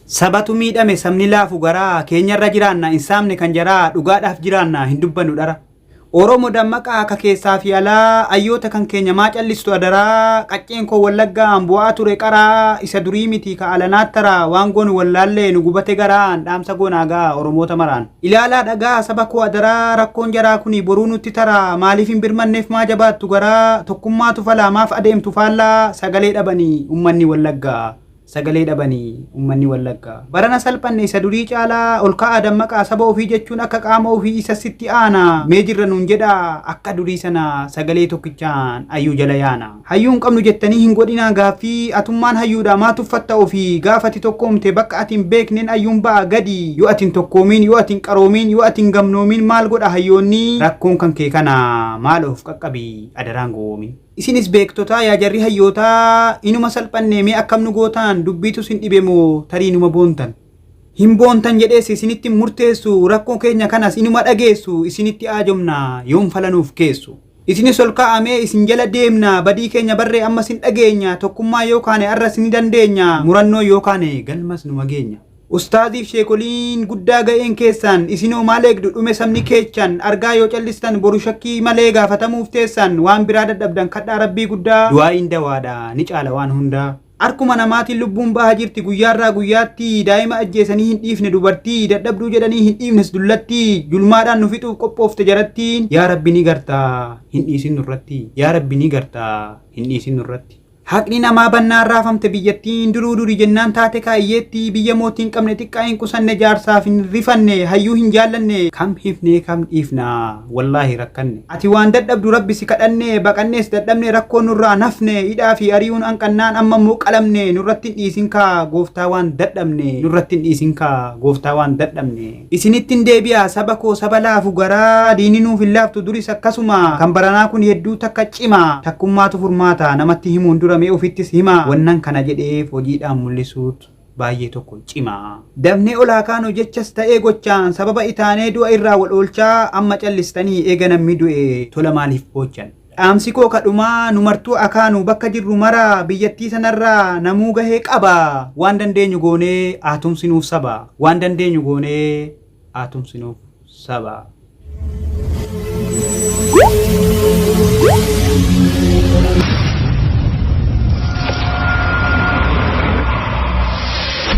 Sabatu miidhame sabni laafu garaa keenyarra jiraanna hin saamne kan jaraa dhugaadhaaf jiraanna hin dubbannu dhara. Oromo dammaqaa ka keessaa fi alaa ayyoota kan keenya maa callistu adaraa qacceen koo wallaggaa an bu'aa ture qaraa isa durii miti ka alanaa taraa waan goonu wallaallee nu gubate garaan dhaamsa goonaa ga'a oromoota maraan. Ilaalaa dhaga'a saba koo adaraa rakkoon jaraa kuni boruu nutti taraa maaliif hin birmanneef maa jabaattu garaa tokkummaatu falaa maaf adeemtu faallaa sagalee dhabani ummanni wallaggaa. sagalee dhabani ummanni wallagga. Barana salphanne isa durii caalaa ol ka'aa dammaqaa saba ofii jechuun akka qaama ofii isa sitti aana mee jirra nuun jedhaa akka durii sana sagalee tokkichaan ayyuu jala yaana. Hayyuu hin qabnu jettanii hin godhinaa gaaffii atummaan hayyuudhaa maa tuffatta ofii gaafa ati tokkoomte bakka ati hin beeknen ayyuun ba'a gadi yoo ati hin tokkoomiin yoo ati hin qaroomiin yoo ati hin gamnoomiin maal godha hayyoonni rakkoon kan kee kana maalo of qaqqabi adaraan gowoomin. Isinis beektotaa yaa jarri hayyootaa inuma salphannee mee akkam nu gootaan dubbiitu sin dhibe moo tarii numa boontan. Hin boontan jedhees isinitti hin murteessu rakkoo keenya kanas inuma dhageessu isinitti aajomna yoom fala nuuf keessu. Isinis ol ka'aa mee isin jala deemna badii keenya barree ammas hin dhageenya tokkummaan yoo kaane arras ni dandeenya murannoon yoo kaane galmas numa geenya. Ustaaziif sheekoliin guddaa ga'een keessaan isinoo maal eegdu dhume sabni keechan argaa yoo callistan boru shakkii malee gaafatamuuf teessaan waan biraa dadhabdan kadhaa rabbii guddaa du'aa'iin dawaadha ni caala waan hundaa. Arkuma namaatiin lubbuun baha jirti guyyaarraa guyyaatti daa'ima ajjeesanii hin dhiifne dubartii dadhabduu jedhanii hin dhiifnes dullatti julmaadhaan nu fixuuf qophoofte jarattiin yaa rabbi ni garta hin dhiisin nurratti yaa rabbi ni garta hin dhiisin nurratti. Haqni namaa bannaan raafamte biyyattiin duruu duri jennaan taate kaayyeetti biyya mootii hin qabne xiqqaa hin qusanne jaarsaaf hin rifanne hayyuu hin jaallanne kam hifnee kam dhiifna wallaahi rakkanne ati waan dadhabdu rabbi si kadhanne baqannees dadhabne rakkoo nurraa hin hafne hidhaa fi ari'uun anqannaan amma immoo qalamne nurratti hin dhiisin kaa gooftaa waan dadhabne nurratti hin dhiisin kaa gooftaa waan dadhabne. Isinittin deebi'a saba koo saba laafu garaa diinni nuuf hin laaftu duris akkasuma kan baranaa kun hedduu takka cima takkummaatu furmaata namatti himuun dura mee ofittis hima wannan kana jedheef hojiidhaan mullisuut baayyee tokko cima dafnee ol haa kaanu jechas ta'ee gochaan sababa itaanee du'a irraa wal oolchaa amma callistanii eega nammi du'e tola maaliif boochan. Dhaamsi koo ka dhumaa nu martuu akaanu bakka jirru mara biyyattii sanarra namuu gahee qaba waan dandeenyu goonee haa tumsinuuf saba waan dandeenyu goonee haa tumsinuuf saba.